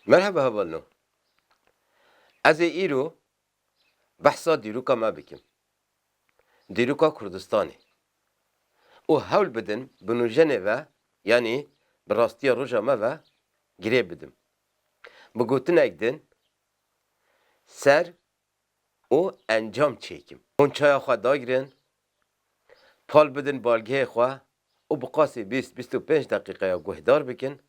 Merhaba heval no. Ez ê îro behsa dîroka me bikim. Dîroka Kurdistanê. Û hewl bidin bi nujenê ve yanî bi rastiya roja me ve girê bidim. Bi gotinek din ser û encam çêkim. Hûn çaya xwe dagirin, pal bidin balgehê xwe û bi qasî bîst, bîst û pênc deqîqeya guhdar bikin.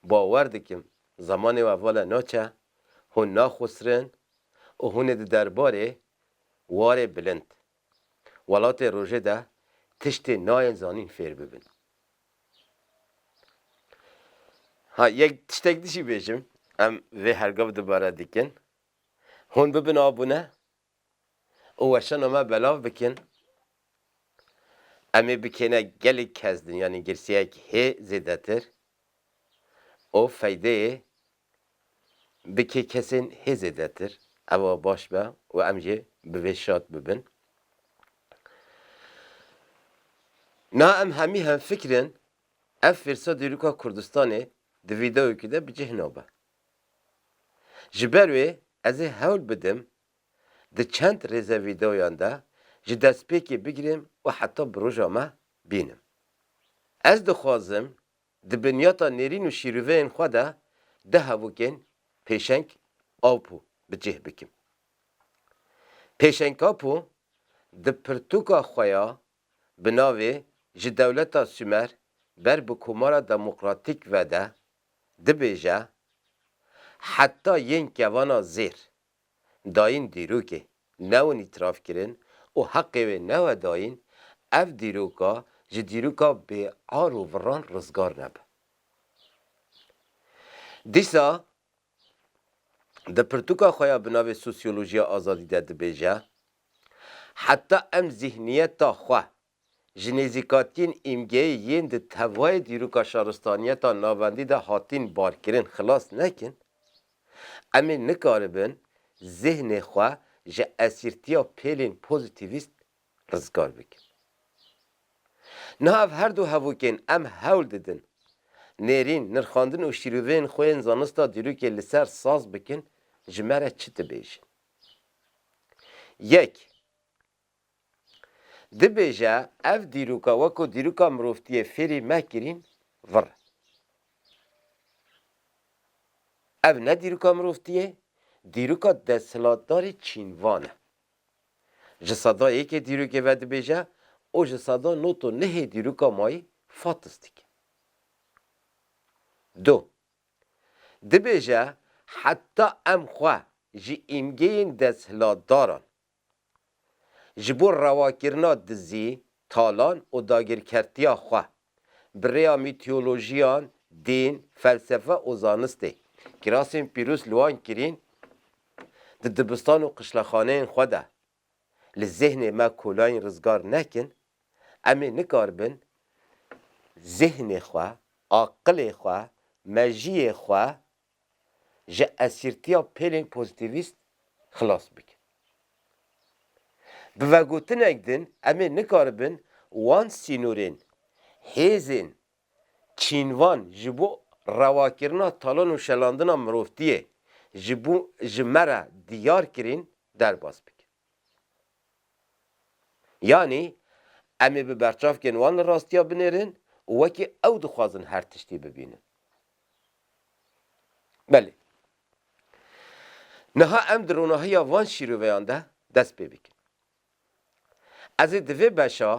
Bawer dikim zemanê we vala naçe, hûn naxusirin û hûn ê di derbarê warê bilind welatê rojê de tiştê nayên zanîn fêr bibin. Ha yek tiştek dijî bêjim, em vê hergav dubare dikin. Hûn bibin abûne û weşana me belav bikin. Em ê bikêne gelek kes din yanî girsiyek hê zêdetir û feydeyê bikê kesên hê zêdetir. Ewa baş be û em jî bi vê şad bibin. Niha em hemî hemfikir in ev fêrsa dîroka Kurdistanê di vîdeoyekê de bi cih nabe. Ji ber wê ez ê hewl bidim di çend rêze vîdeoyan de ji destpêkê bigirêm û heta bi roja me bînim. Ez dixwazim di binyata nêrîn û şîrûveyên xwe de du hevokên pêşeng apo bi cih bikim. Pêşengapo di pirtûka xwe ya Bi navê Ji dewleta Sûmer ber bi Komara Demokratîk ve de dibêje, Heta yên kevana zêr dayîn dîrokê newin îtirafkirin û heqê wê newe dayîn, ev dîroka ji dîroka bêar û viran rizgar nebe. Dîsa di pirtûka xwe ya bi navê Sosyolojiya Azadî de dibêje, Heta em zîhniyeta xwe ji nêzîkatiyên îmgeyê yên di tevayê dîroka şaristaniyeta navendî de hatîn barkirin xilas nekin, em ê nikaribin zîhnê xwe ji esîrtiya pêlên pozîtîvîst rizgar bikin. Niha ev her du hevokên em hewl didin nêrîn, nirxandin û şîrûveyên xwe yên zanista dîrokê li ser saz bikin ji me re çi dibêjin. Yek, dibêje ev dîroka weko dîroka mirovtiyê fêrî me kirîn vir e. Ev ne dîroka mirovtiyê, dîroka desthilatdarê çînvan e. Ji sada yekê dîrokê vedibêje û ji sada not û nehê dîroka mayî fatis dike. Du. Dibêje heta em xwe ji îmgeyên desthilatdaran ji bo rewakirina dizî talan û dagirkertiya xwe, bi rêya mîtiyolojiyan, dîn, felsefe û zanistê, kirasên pîrûz li wan kirîn, di dibistan û qişlexaneyên xwe de, li zêhnê me kolayîn rizgar nekin, em ê nikaribin zêhnê xwe, aqilê xwe, mejiyê xwe ji esîrtiya pêlên pozîtîvîst xilas bikin. Bi vegotinek din em ê nikaribin wan sînorên hêzên çînvan ji bo rewakirina talan û şelandina mirovtiyê ji bo ji me re diyar kirîn derbas bikin. Yanî em ê bi berçavkên wan li rastiya binêrin û wekî ew dixwazin her tiştî bibînin. Belê. Niha em di ronahiya van şîroveyan de dest pê bikin. Ez ê di vê beşa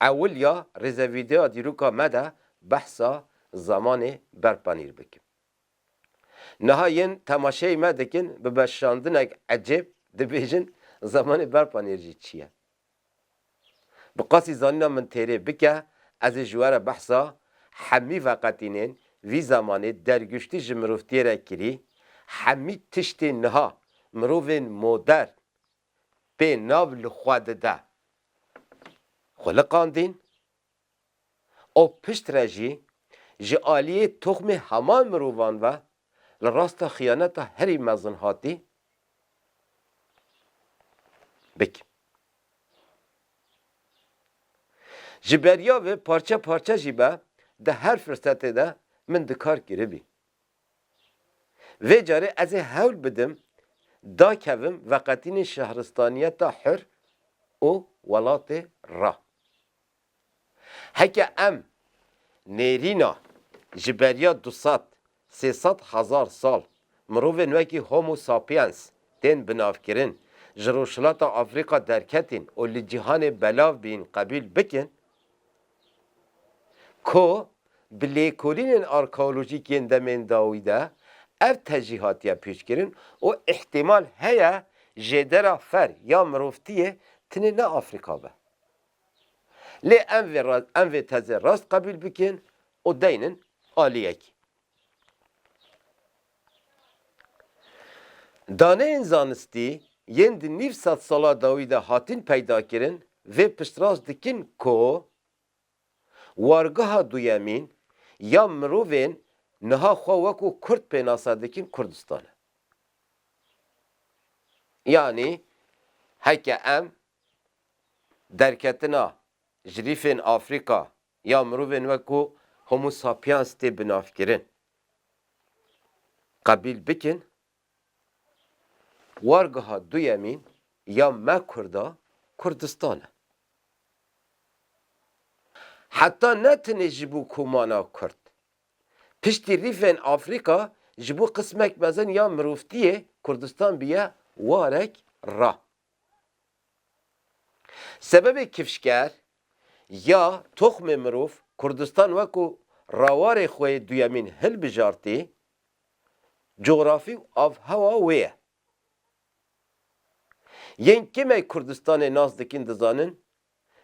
ewil ya rêzevîdeoya dîroka me de behsa zemanê berpanîr bikim. Niha yên temaşeyê me dikin bi beşandinek ecêb dibêjin zemanê berpanêr jî çi ye? Bi qasî zanîna min têrê bike ez ê ji we re behsa hemî veqetînên vî zemanê derguştî ji mirovtiyê re kirî, hemî tiştên niha mirovên modern pê nav li xwe dide xwe liqandîn, û piştre jî ji aliyê toxmê heman mirovan ve li rasta xiyaneta herî mezin hatî bik. Ji beriya vê parçe parçe jî be di her firsetê de min di kar kiribî. Vê carê ez ê hewl bidim dakevim veqetînê şehristaniyeta hur û welatê ra. Heke em nêrîna ji beriya du sed, sê sed hezar sal mirovên wekî Homo sapiens tên binavkirin, ji Rojhilata Afrîka derketîn û li cîhanê belav bîn qebûl bikin ku bi lêkolînên arkeolojîk yên demên dawî de ev tejî hatiye pêşkirin û îhtîmal heye jêdera fer ya mirovtiyê tenê ne Afrîka be. Lê em vê em vê tezê rast qebûl bikin û deynin aliyekî. Daneyên zanistî yên di nîv sed sala dawî de hatin peydakirin vê piştrast dikin ku wargeha duyemîn ya mirovên niha xwe wekû kurd pênase dikin Kurdistan e. Yanî heke em Derketina jirîfên Afrîka ya mirovên wekû Homo sapiens tê binavkirin. Qebîl bikin wargeha duyemîn ya me Kurda Kurdistan e. Heta ne tenê ji bo komana Kurd. Piştî rîfên Afrîka ji bo qismek mezin ya mirovtiyê Kurdistan bûye warek ra. Sebebê kifşker ya toxmê mirov Kurdistan weko rawarê xwe yê duyemîn hilbijartî, cografî û avhewa wê ye. Yên kêmey Kurdistanê nas dikîn dizanin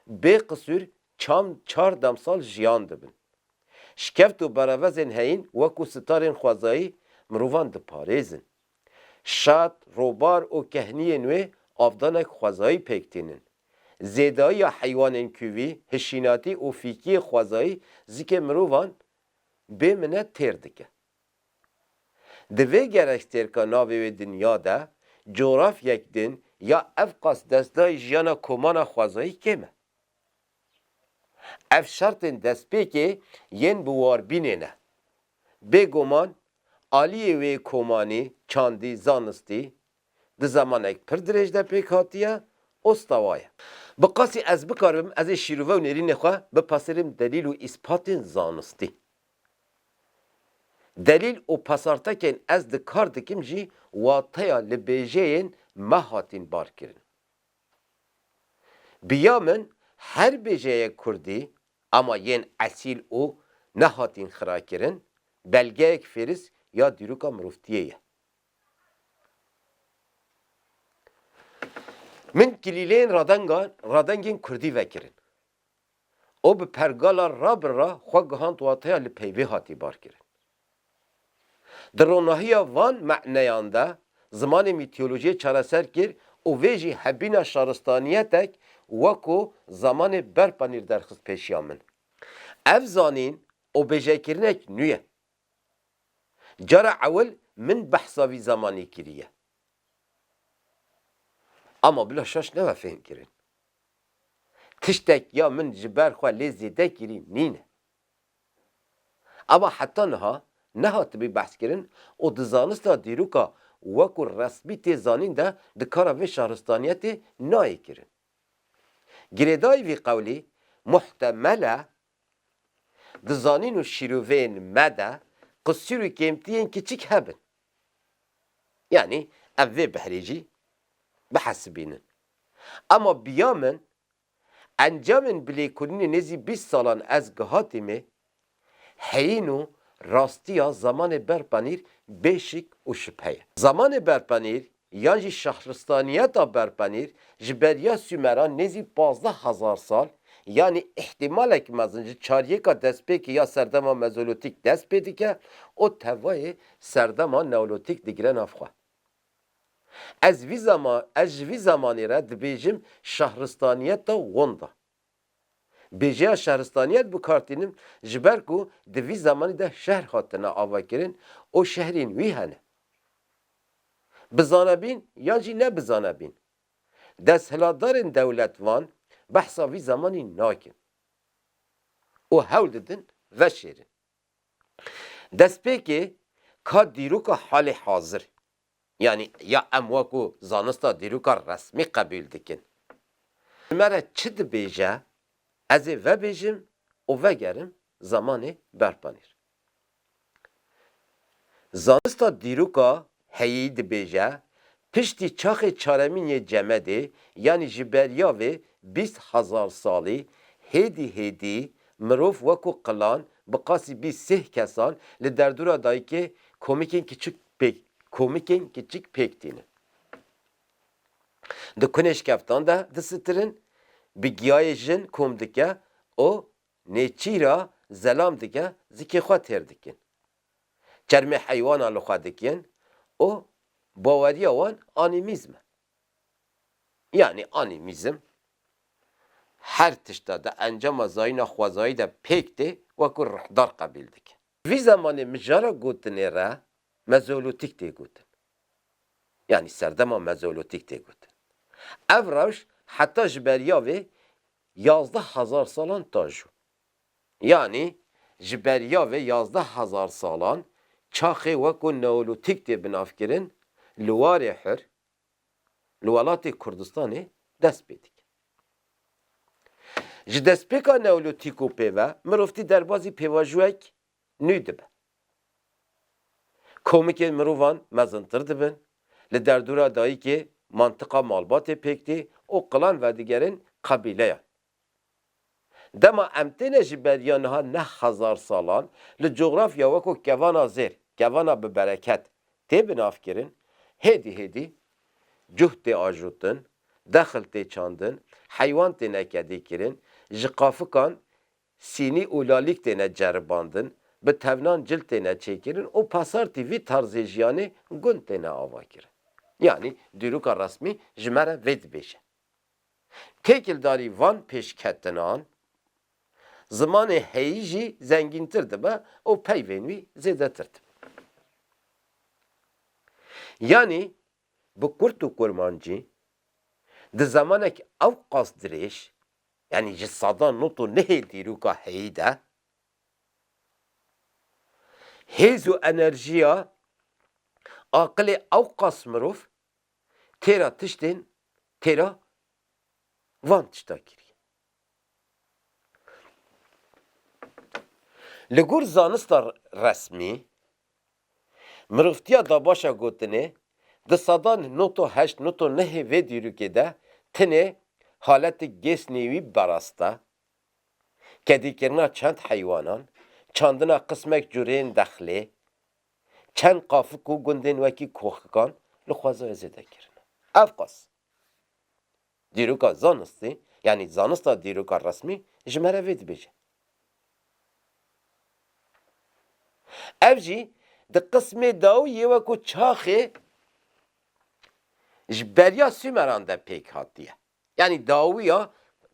bê qisûr çam çar demsal jiyan dibin. Şikeft û berevezên heyîn wekû sitarên xwezayî mirovan diparêzin. Şat, robar û kehniyên wê avdanek xwezayî pêk tînin. Zêdayiya heywanên kûvî, hişînatî û fîkiyê xwezayî zikê mirovan bê minet têr dike. Di vê gerekstêrka navê wê dinya de, cografyek din ya evqas destnayê jiyana komana xwezayî kêm e. Ev şertên destpêkê yên bi warbînê ne. Bêguman aliyê wê komanî, çandî, zanistî di zemanek pir dirêj de pêk hatiye û stewa ye. Bi qasî ez bikaribim ez ê şîrove û nêrînê xwe bipasêrim delîl û îspatên zanistî. Delîl û pasartekên ez di kar dikim jî wateya li bêjeyên me hatin barkirin. Bi ya min her bêjeyek kurdî ama yên esîl û nehatîn xirakirin belgeyek fêris ya dîroka mirovtiyê ye. Min kilîleyên radengan radengên kurdî vekirin. û bi pergala Rabr re xwe gihand wateya li peyvê hatî barkirin. Di ronahiya van maneyan de zimanê mîtolojiyê çareser kir û vê jî hebîna şaristaniyetek weko zamanê berpanîr derxist pêşiya min. Ev zanîn û bêjekirinek nû ye. Cara ewil min behsa vî zamanî kiriye. Ama bila şaş nebe fêhmkirin. Tiştek ya min ji ber xwe lê zêde kirî nîne. Ema heta niha nehatibî behskirin û di zanista dîroka wek û resmî tê zanîn de di kara vê şaristaniyetê nayê kirin. Girêdayî vî qewlî muhtemel e Di zanîn û şîroveyên me de qisûr û kêmtiyên kiçik hebin. Yanî ev vê behrê jî bihesibînin. Ema biya min, encamên bilêkurînê nêzî bîst salan ez gihatîme heyîn û rastiya zamanê berpanîr bê şik û şibheye. Zamanê berpanîr Yan jî şehristaniyeta berpenîr ji beriya Sûmeran nêzî pazdeh hezar sal, yanî îhtîmalek mezin ji çaryêka destpêkê ya serdema Mezolotîk dest pê dike û tevayê serdema Neolotîk digire nav xwe. Ez vî zama ez ji vî zemanê re dibêjim şehristaniyeta Wonda. Bêjeya şehristaniyet bi kar tînin ji ber ku di vî zemanî de şehr hatine avakirin û şehrên wî hene. Bi zanebîn yan jî ne bi zanebîn, desthilatdarên dewlet van behsa vî zemanî nakin û hewl didin veşêrin. Destpêkê ka dîroka halê hazir. Yanî ya em wekû zanista dîroka resmî qebûl dikin. Ji me re çi dibêje ez ê vebêjim û vegerim zemanê berpanîr. Zanista dîroka heyî dibêje piştî çaxê çaremîn yê Cemedê yanî ji beriya vê bîst hezar salî hêdî hêdî mirov wekû qilan bi qasî bîst sih kesan li derdora dayikê komikên kiçik Pêk, komikên kiçik pêk tînin. Di kunêşkeftan de disitirin, bi giyayê jin kom dike û nêçîra zelam dike zikê xwe têr dikin. Çermê heywanan li xwe dikin û baweriya wan anîmîzm e. Yanî anîmîzm her tişta di encama zayîna xwezayî de pêk tê wekû rihdar qebîl dikin. Vî zemanê mijara gotinê re Mezolotîk tê gotin. Yanî serdema Mezolotîk tê gotin. Ev rewş heta ji beriya vê yazdeh hezar salan tajo. Yanî ji beriya vê yazdeh hezar salan çaxê weko Neolotîk tê binavkirin, li warê hur, li welatê Kurdistanê dest pê dike. Ji destpêka neolîtîk û pê ve mirovtî derbazî pêvajoyek nû dibe. Komikên mirovan mezintir dibin, li derdora dayikê mantiqa malbatê pêk tê û qilan vedigerin qebîleyan. Dema em têne ji beriya niha neh hezar salan, li cografya weko kevana zêr, kevana bi bereket tê binavkirin, hêdî hêdî cuh tê ajotin, dexil tê çandin, heywan têne kedîkirin, ji qafikan sînî û lalîk têne ceribandin, bi tevnan cil têne çêkirin û pasartî vî tarzê jiyanê gund têne avakirin. Yanî dîroka resmî ji me re vê dibêje. Têkildarî van pêşketinan, zimanê heyî jî zengîntir dibe û peyvên wî zêdetir dibe. Yanî bi kurt û kurmancî di zemanekî ewqas dirêj, yanî ji sadan not û nihê dîroka heyî de, hêz û enerjiya aqilê ewqas mirov têra tiştên têra van tişta kiriye. Li gor zanista resmî, mirovtiya dabaşa gotinê di sedan nota heşt nota nehê vê dîrokê de tenê haletê gêsnê wî berast e, kedîkirina çend heywanan, çandina qismek cureyên dexlê, Çend qafik û gundên wekî koxikan li xwezaya zêde kirine. Ev qas dîroka zanistî, yanî zanista dîroka resmî ji me re vê dibêje. Ev jî di qismê dawî yê wek û çaxê ji beriya Sûmeran de pêk hatiye. Yanî dawiya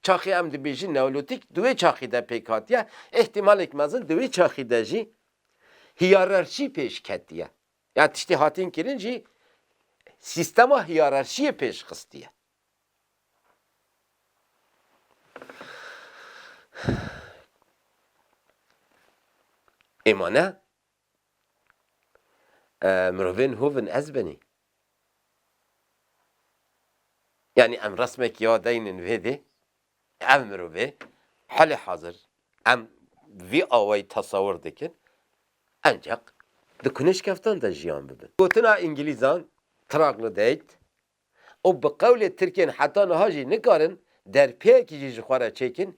çaxê em dibêjin neolotîk di wê çaxê de pêk hatiye, îhtîmalek mezin di wê çaxê de jî hîyararşî pêş ketiye. Yan tiştê hatin kirin jî sîstema hîyararşîyê pêş xistiye. Êma ne Mirovên hov in ez binî. Yanî em resmekî ya deynin vê dê, ev mirovê helê hazir em vî awayî tesewir dikin enceq di kunêşkeftan de jiyan bibin. Gotina îngilîzan, troglodyte, û bi qewlê Tirkên heta niha jî nikarin derpêyekî jî ji xwe re çêkin,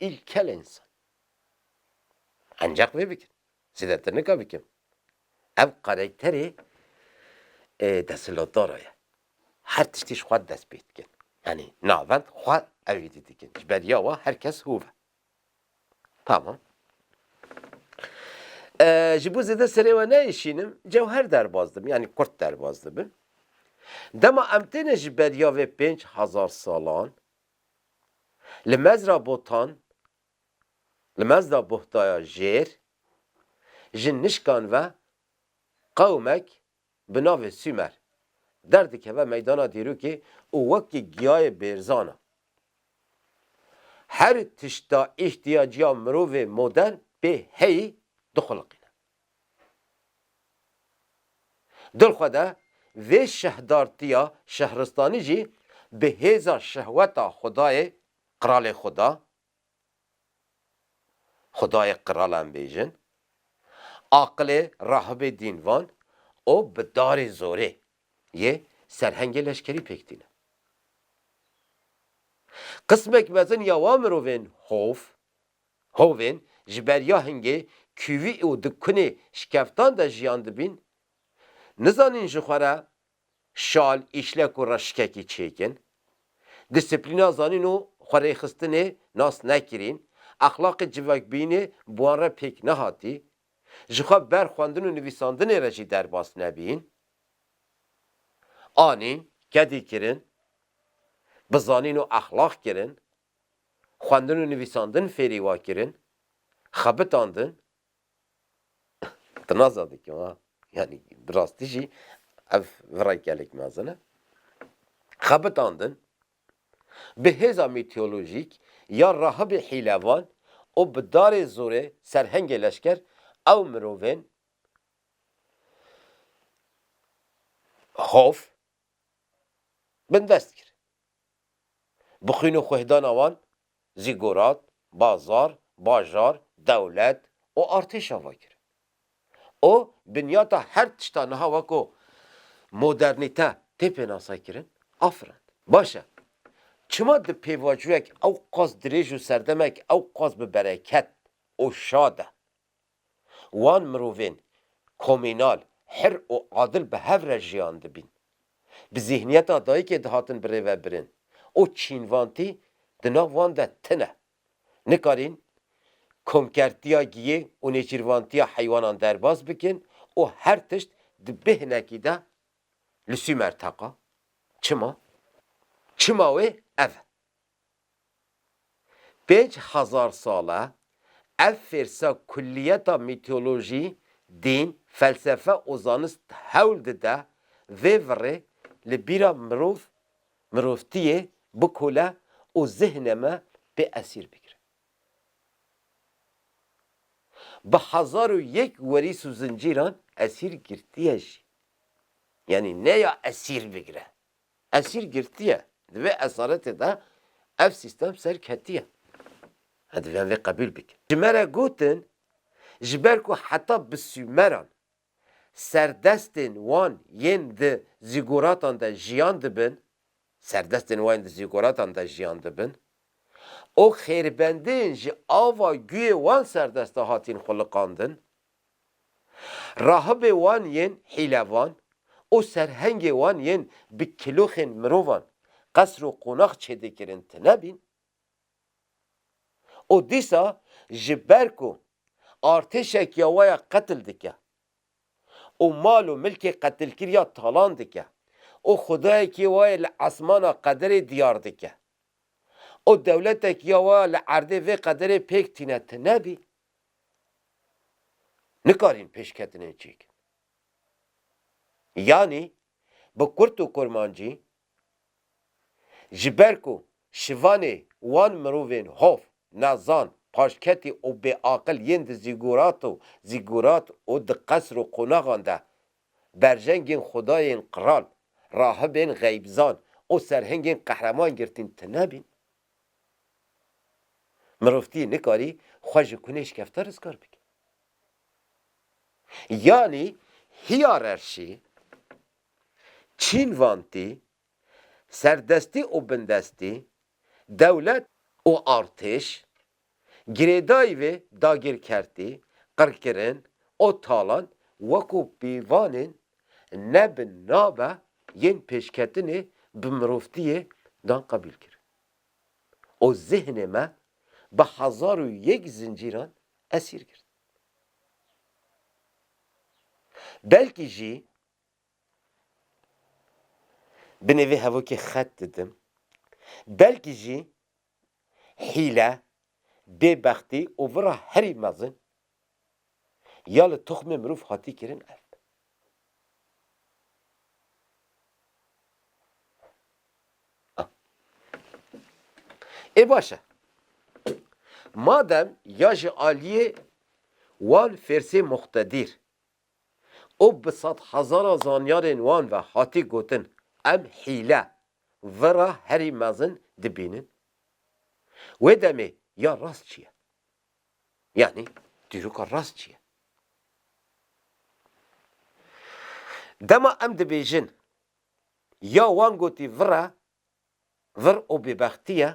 îlkel însan. Enceq vê bikin. Zêdetir nika bikim. Ev karekterê desthilatdara ye. Her tiştî ji xwe dest pê dikin. Yanî navend xwe ew êdî dikin. Ji ber ya we her kes hov e. Tamam. Ji bo zêde serê we neyişînim, cewher derbas dibin, yanî kurt derbas dibin. Dema em têne ji beriya vê pênc hezar salan li mezra botan, li mezda bohtaya jêr, ji nişkan ve qewmek bi navê Sûmer derdikeve meydana dîrokê û wekî giyayê bêrzan e. Her tişta îhtiyacîya mirovê modern pê heyî dixuliqîne. Dilxwede vê şehdartîya şehristanî jî bi hêza şehweta xwedayê Qralê Xweda Xudayê qiralan bêjin, aqilê rahibê dînvan û bi darê zorê yê serhengê leşkerî pêk tîne. Qismek mezin ya wan mirovên hov, hovên ji ber ya hingê kûvî û di kunê şikeftan de jiyan dibîn, nizanîn ji xwe re Şal, îşlek û reşikekî çêkin. Disiplîna zanîn û xwerêxistinê nas nekirîn. Exlaqê civakbîyînê bi wan re pêk nehatî. Jixwe ber xwendin û nivîsandinê re jî derbas nebîn. Anîn, kedî kirin. Bi zanîn û exlaq kirin. Xwendin û nivîsandin fêrî wa kirin. Xebitandin. Te naza dikim ha. Yani bi rastî jî ev virayê gelek mezin e. Xebitandin bi hêza mîteolojîk ya rahibê hîlevan û bi darê zorê serhengê leşker ew mirovên hof bindest kir. Bi xwîn û xwêhdana wan zîgurat, bazar, bajar, dewlet û artêş ava kirin û binyata her tişta niha weko modernîte tê pênasekirin a firand. Baş e, çima di pêvajoyek ewqas dirêj û serdemek ewqas bi bereket û şad e Wan mirovên komînal, hir û adil bi hev re jiyan dibîn. Bi zîhniyeta dayikê dihatin birêvebirin û çînvantî di nav wan de tine. Nikarîn komkertiya giyê û nêçîrvantiya heywanan derbas bikin û her tişt di bê hinekî de li Sûmer teqa. Çima? Çima wê ev e. Pênc hezar sal e ev fêrsa kulliyeta mîteolojî, dîn, felsefe û zanist hewl dide vê virê li bîra mirov, mirovtiyê bikole û zihnê me pê esîr bigire. Bi hezar û yek werîs û zincîran esîr girtiye jî. Yanî ne ya esîr bigire. Esîr girtiye. Di vê esaretê de ev sîstem ser ketiye. Em divên vê qebûl bikin. Ji me re gotin, ji ber ku heta bi Sûmeran serdestên wan yên di zîguratan de jiyan dibin, serdestên wan yên di zîguratan de jiyan dibin û xêrbendiyên ji ava guyê wan serdeste hatîn xwiliqandin. Rahibê wan yên hîlevan û serhengê wan yên bi kiloxên mirovan qesr û qonax çêdêkirin tine bîn û dîsa ji ber ku artêşek ya waya qetil dike û mal û milkê qetilkirîya talan dike û xwedayekî wayê li esmana qederê diyar dike û dewletekî ya waya li erdê vê qederê pêk tîne tine bîn. Nikarin pêşketinên çêkin. Yanî bi kurt û kurmancî ji ber ku şivanê wan mirovên hov, nezan, paşketî û bêaqil yên di zîgurat û zîgurat û di qesr û qonaxan de berjengên xwedayên qral, rahibên xeybzan û serhengên qehreman girtîn tune bîn. Mirovtî nikarî xwe ji kunê şikefte rizgar bike. Yanî hîyarerşî, çînvantî, serdestî û bindestî, dewlet û artêş Girêdayî vê dagirkertî, qirkirin û talan wekû pîvanên ne bi nava yên pêşketinê bi mirovtiyê dan qebîl kir û zihnê me bi hezar û yek zincîran esîr girt. Belkî jî binê vê hevokê xet didim, belkî jî hîle, bêbextî û vira herî mezin ya li toxmê mirov hatî kirin ev be. Ê baş e. Madem ya ji aliyê wan fêrsê muqtedîr û bi sedhezaran zanyarên wan ve hatî gotin em hîle, vera herî mezin dibînin. Wê demê ya rast çi ye? Yanî dîroka rast çi ye? Dema em dibêjin ya wan gotî vir e, vir û bêbextî ye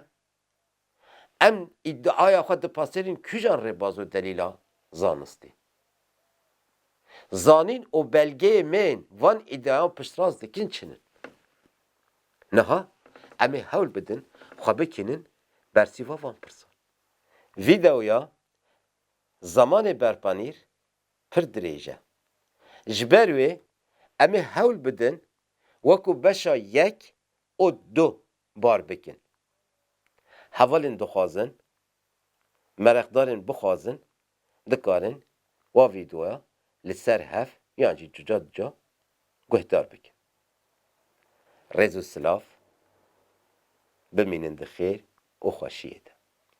Em îdiaya xwe dipasêrin kîjan rêbaz û delîla zanistî? Zanîn û belgeyê me yên van îdiayan piştrast dikin çin in? Niha em ê hewl bidin xwe bikînin bersîva van pirsan. Vîdeoya Zamanê Berpanîr pir dirêj e. Ji ber wê em ê hewl bidin wekû beşa yek û du bar bikin. Hevalên dixwazin, mereqdarên bixwazin dikarin wa vîdeoya li ser hev yan jî cuca cuca guhdar bikin. Rêz û silav, bimînin di xêr û xweşiyê de.